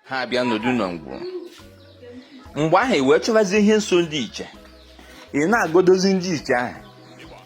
ha abịa nọdụ na ngwuru mgbe ahụ e wee chọbazie ihe nso ndị iche ị na-agodozi ndị iche ahụ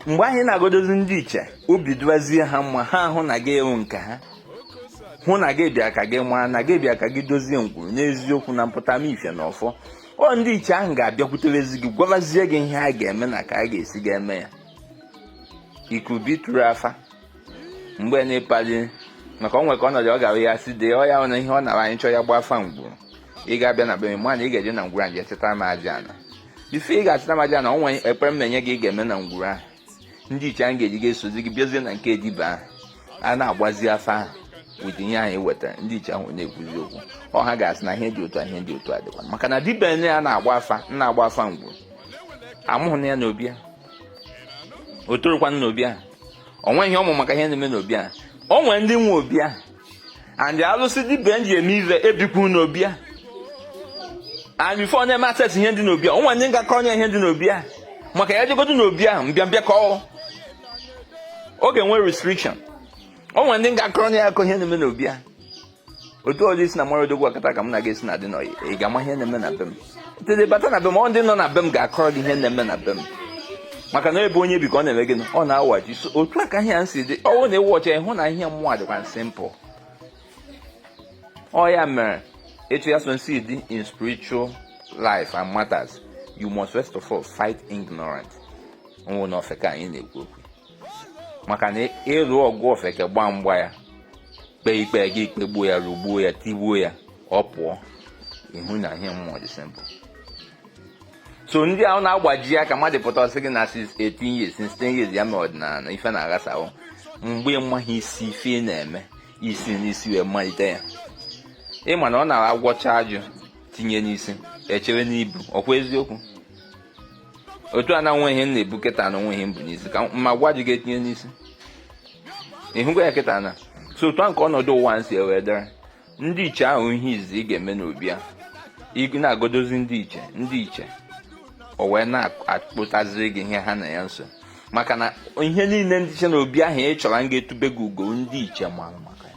mgbe ahụ ị na-agodozi ndị iche obi dụbazie ha mma ha ahụ na gị ị wụ nke ha hụ na gị bịa ka gị maa na gị bịa ka gị dozie ngwuru n'eziokwu na mpụta m ife na ọfọ ọ ndị iche ahụ ga-abịakwuterezi gị gwabazie gị ihe a ga-eme na ka a ga-esi ga-eme ya it could be through afa principally maka o nwe ka ọnọdụ ọ gara ya si dee ọ ya na ihe ọ nara anyị chọọ ya gba afa ngwuru ị ga-abịa na be m mana ị ga-eje na ngwuru ahụ chịta m aja ana before ị ga-achịta m aja na o nwe ekpere m na-enye gị ị ga-eme na ngwuru ahụ ndị iche ahụ ga-eji ga-esozi gị bịazie na nke dibịa ahụ a na-agbazi afa ahụ with ihe ahụ i wetara ndị iche ahụ na-ekwuzi okwu ọ ha ga-asị na ihe dị otu a ihe dị otu a dịkwa maka na dibịa a na-agba afa na-agba afa ngwuru amụhụ nya n'obi a o torokwana n'obi ahụ o nweghị ọ ma maka ihe na-eme n'obi ahụ o nwere ndị nwe obi ahụ and alụsị dibịa ji eme ive ebikwu n'obi ahụ and before ọ na-eme access ihe dị n'obi ahụ o nwere ndị ga-akọ onye ihe dị n'obi ahụ maka ya jegodo n'obi ahụ mbịambịa ka ọ ọ ga-enwe restriction o nwere ndị ga-akọ onye akọ ihe na-eme n'obi ahụ otu ọ dụ ị sị na mara Odogwu Akataka m na gị esi na dị n'ọyị ị ga-ama ihe na-eme na be m tede bata na be m ọ ndị nọ na be m ga-akọrọ gị ihe na-eme na be m maka na ebe onye bi ka ọ na-eme gịnị ọ na-awachi so otu a ka ihe ya si dị ọ wụ na ị wụ ọcha ị hụ na ihe mmụọ dịkwa simple ọ ya mere etu ya so nsi dị in spiritual life and matters you must first of all fight ignorance nwụ na ofeke anyị na-ekwu okwu maka na ị lụ ọgụ ofeke gbaa mgba ya kpee ikpe gị kpegbuo ya rụgbuo ya tigbuo ya ọ pụọ ị hụ na ihe mmụọ dị simple so ndị ahụ na-agbaji aka mmadụ pụta ọ sị gị na 18 years 16 years ya mee ọdịnala ife na-aghasawo mgbe ịmaghị isi ife ị na-eme i si n'isi wee malite ya ị ma na ọ na-agwọcha ajụ tinye n'isi e chere n'ibu ọ kwa eziokwu otu a na o nwe ihe m na-ebu kịta na o nwe ihe m bu n'isi ka m gwọ ajụ ga-etinye n'isi ị hụgo ya kịta na so otu a nke ọnọdụ ụwa nsi wee dere ndị iche ahụ ihe izi ị ga-eme n'obi a ị na-agodozi ndị iche ndị iche o wee na-akpọtaziri gị ihe ha na ya nso maka na ihe niile ndị iche n'obi ahụ ị chọrọ ga-etube gị ugo ndị iche mara maka ya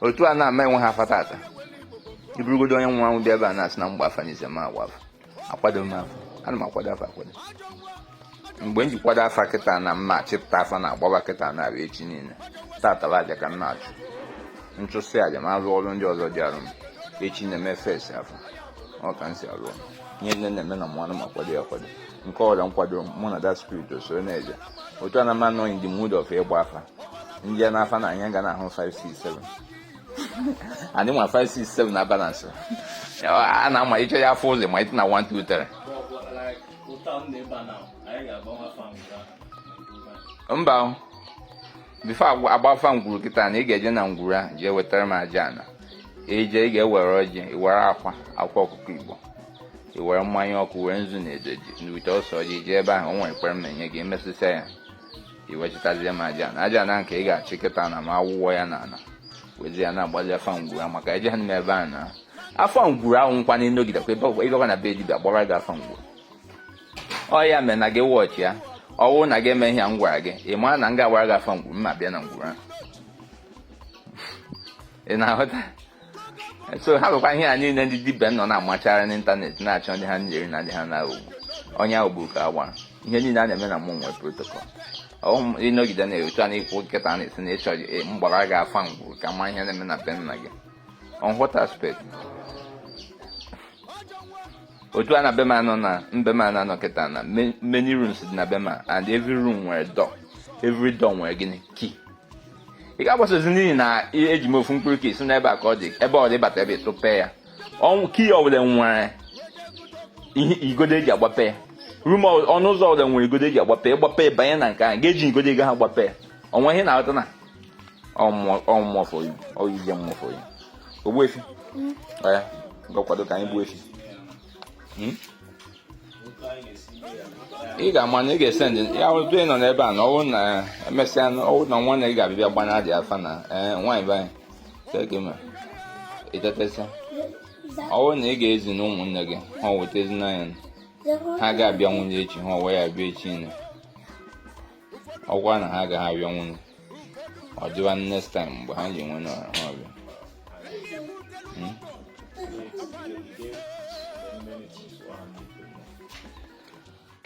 otu a na m enwehe afa tata ị bụrụgodo onye nwe anwụ dị ebe a na-asị na m gbaa afa anịzi m agba afa akwado m afa ana m akwado afa akwado mgbe m ji kwado afa kịta na m ma-achịpụta afa na-agbaba kịta na-abịa echi niile tata bụ aja ka m na-achụ m chụsịa aja m alụ ọrụ ndị ọzọ dịrị m echi na-eme face afa ọ ka m si alụ ihe niile na-eme na mmanụ m na-akwado ya akwado nke ọrịa nkwado mụ na that spirit so na-eje otu a na m anọ in the mood of ịgba afa ndị ya n'afa na anya ga na ahụ 567 anyị ma 567 na balance a na-ama ịchọ ya afọ ụzọ ma ịtụ na 123 mba before a gbaa afa ngwuru kịta na ị ga-eje na ngwuru a jee wetara m aja ana eje ị ga-ewere ọjị were akwa akwa ọkụkọ Igbo i were mmanya ọkụ were nzu na edo n'ute ose ọjị jee ebe ahụ o nwere ekpere m na-enye gị emesịsịa ya i wechitazie m aja ana aja ana nke ị ga-achị kịta na m awụọ ya na ala wezi ya na-agbazi afa ngwuru ahụ maka eje ha n'ime ebe ahụ na afa ngwuru ahụ ọkwa na ịnọgidekwa ebe ọgwa ịgakwa na be dibịa gbara gị afa ngwuru ọ ya mere na gị wọchị ya ọwụ na gị eme ihe a m gwara gị ị mara na m ga-agbara gị afa ngwuru m abịa na ngwuru ahụ ị na-aghọta so ha bụkwa ihe a niile ndị dibịa nọ na-amachara n'ịntanetị na-achọ ndị ha na-eri na ndị ha na-aghọgbu onye ahụ bụ ka agbara ihe niile a na-eme na mmụọ nwere protocol ịnọgide na etu a na-ekwu kịta na-esi na ịchọ e, m gbara gị afa ngwuru ka m ma ihe na-eme na be nna gị on what aspect otu a na be m anọ na be m na-anọ kịta na many rooms dị na be m and every room nwere door every door nwere gịnị key ị ga-agbasozi n'ihi na eji m ofu mkpụrụ key si n'ebe a ka ọ dị ebe ọ dị bata ebe ịtụpe ya ọnwụ key ọbụla nwere igodo eji agbape ya room ọnụ ụzọ ọbụla nwere igodo eji agbape ịgbape banye na nke ahụ ga-eji igodo ego ha gbape ya o nwere ihe na-aghọta na ọmụmọfọ oyizie mmụfọ ya ogbuefi ya hmm? ngwa kwado ka anyị gbuo efi hmm? ị ga-ama na ị ga-esend ya wụtụ ị nọ n'ebe a na ọwụ na emesịa ọwụ na nwa na ị ga-abịa gbana dị afa na ee nwaanyị be anyị keke ma ịtetesịa ọwụ na ị ga-ezi na ụmụnne gị ha weta ezinanya ha ga-abịa nwanne echi ha wee ya bịa echi niine ọkwa na ha agaghị abịanwu ọ dịwa next time mgbe ha ji enwe na ha abịa hmm?